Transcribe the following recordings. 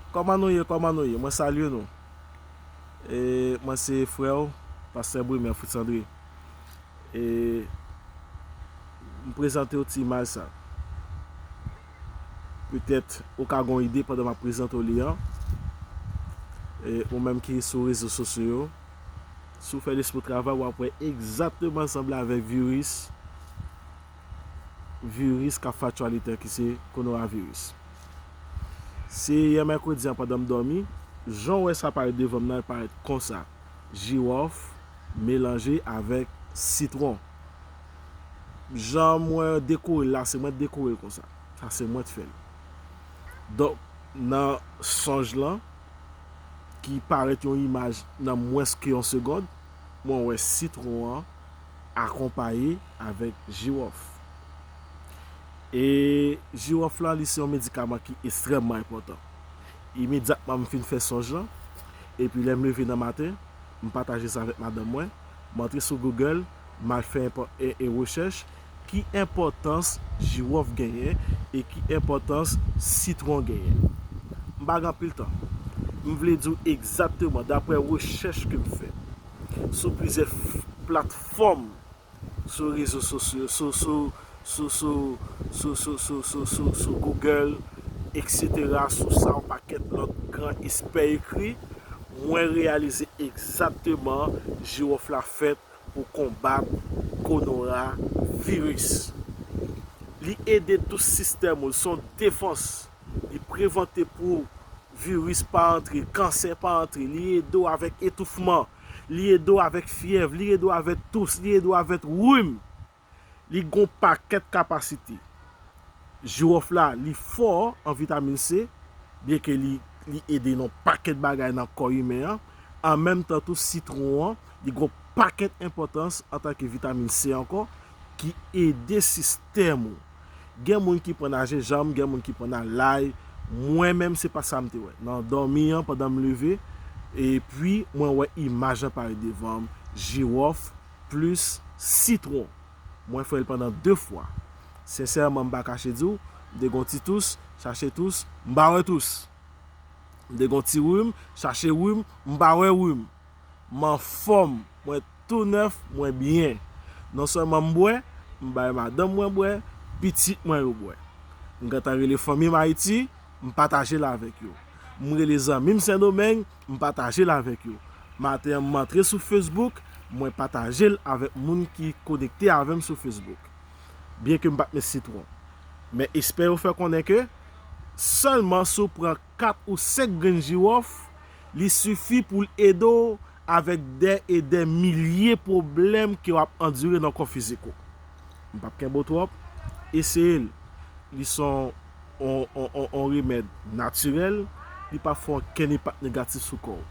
Kòman nou ye kòman nou ye mwen salye nou e mwen se frè ou pastè Brumaire Fritz André e m prezante ou ti imaj sa petèt ou ka gon ide pandan m ap prezante ou li an e ou menm ki sou rezo sosyo yo si w fè lespri w travay w ap wè egzakteman l sanble avèk viris viris kap fè aktyalite an ki se konoraviris. Se yè mèkredi an pandan m dòmi, jan w wè sa parèt devan m nan, l parèt konsa, Jiwòf melanje avèk sitwon. Jan mwen dekore l la, se mwen t dekore l konsa. Sa se mwen t fè l. Donk, nan sonj lan, ki parèt yon imaj nan mwens ke yon segond, mwen wè sitwon an, akonpaye avèk jiwòf. E jiwòf la li se yon medikaman ki estrèmman enpòtan. Imedyatman m fin fè sonj lan, epi lè m leve nan maten, m pataje sa avèk madanm mwen, m antre sou Google, m al fè e rechèch ki enpòtans jiwòf genyen e ki enpòtans sitwon genyen. M pa gen anpil tan. M vle di w egzakteman daprè rechèch ke m fè. sou plizyè platfòm sou rezo sosyo sou Google etc sou sa yon pakèt lòt gran espè ekri, mwen reyalize egzatteman jiwòf la fèt pou konbat konora viris. Li ede tou sistèm ou, li son defans Li prevante pou viris pa antre, kansè pa antre, li ede w avèk etoufman, li ede w avèk fyèv, li ede w avèk tous, li ede w avèk rhum. Li gen yon pakèt kapasite. Jiwòf la li fò an vitamin C, byen ke li ede nan yon pakèt bagay nan kò imen an, an menm tan tou sitwon an, li gen yon pakèt enpòtans antanke vitamin C ankò, ki ede sistèm ou gen moun ki pran nan jenjanm gen moun ki pran nan lay mwen menm se pa sam te wè nan dòmi an pandan m leve epi mwen wè imaj lan parèt devanm jiwòf plis sitwon mwen fè l pandan 2 fwa sensèman m pa kache di w m te gon ti tous chache tous m pa wè tous m te gon ti rum chache rum m pa wè rum. M anfòm, mwen tou nèf, mwen byen. Non sèlman m bwè, m bay madanm mwen bwè, pitit mwen yo bwè. M gentan rele fanmi m Ayiti, m pataje l avèk yo. M rele zanmi m Sendomeng, m pataje l avèk yo. Maten an m antre sou Facebook, mwen pataje l avèk moun ki konekte avè m sou Facebook. Byenke m pa t met sitwon. Men espè yo fè konnen ke sèlman si w pran. 4 ou 5 grenn jiwòf, li sifi pou l ede w avèk dè e dè milye pwoblèm ke w ap andire nan kò fizik ou. M pap kenbe w twòp, eseye l. Li s on on on on remèd natirèl, li pap fè okenn enpak negatif sou kò w.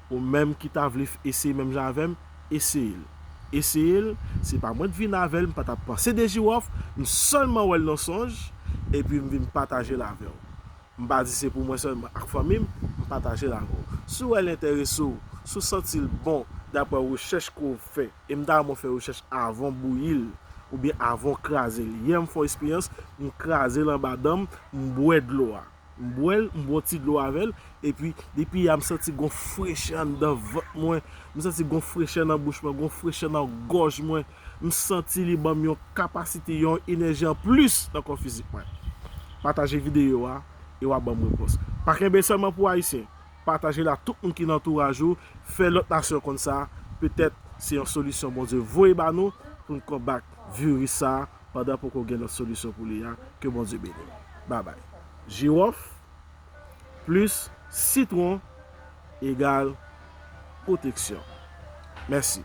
Ou menm ki ta vle eseye menm jan avèm eseyel eseyel se pa mwen t vin avèl m patap panse de jiwòf m sèlman wèl nan sonj epi m vin patajel avèw m pa di se pou mwen sèlman ak fanmim m patajel avèw si wèl entèresew si w santil bon daprè rechèch ke w fè e m ta renmen w fè rechèch avan w bouyil oubyen avan w krazel yè m fon esperyans m krazel anba danm m bwè dlo a. M bwè l, m bwè yon ti dlo avè l, epi depi yè a m santi gon frechè anndan vant mwen, m santi gon frechè nan bouch mwen, gon frechè nan gòj mwen, m santi li ban m yon kapasite, yon enèji an plis nan kò fizik mwen. Pataje videyo a e w a ban m repons. Pa kenbe sèlman pou Ayisyen, pataje l a tout moun ki nan antouraj ou, fè lòt nasyon konn sa, petèt se yon solisyon Bondye voye ba nou pou n konbat viris sa a. pandan poko gen lòt solisyon pou li a ke Bondye beniw babay. Jirof plis sitron egal pwoteksyon. Mèsi.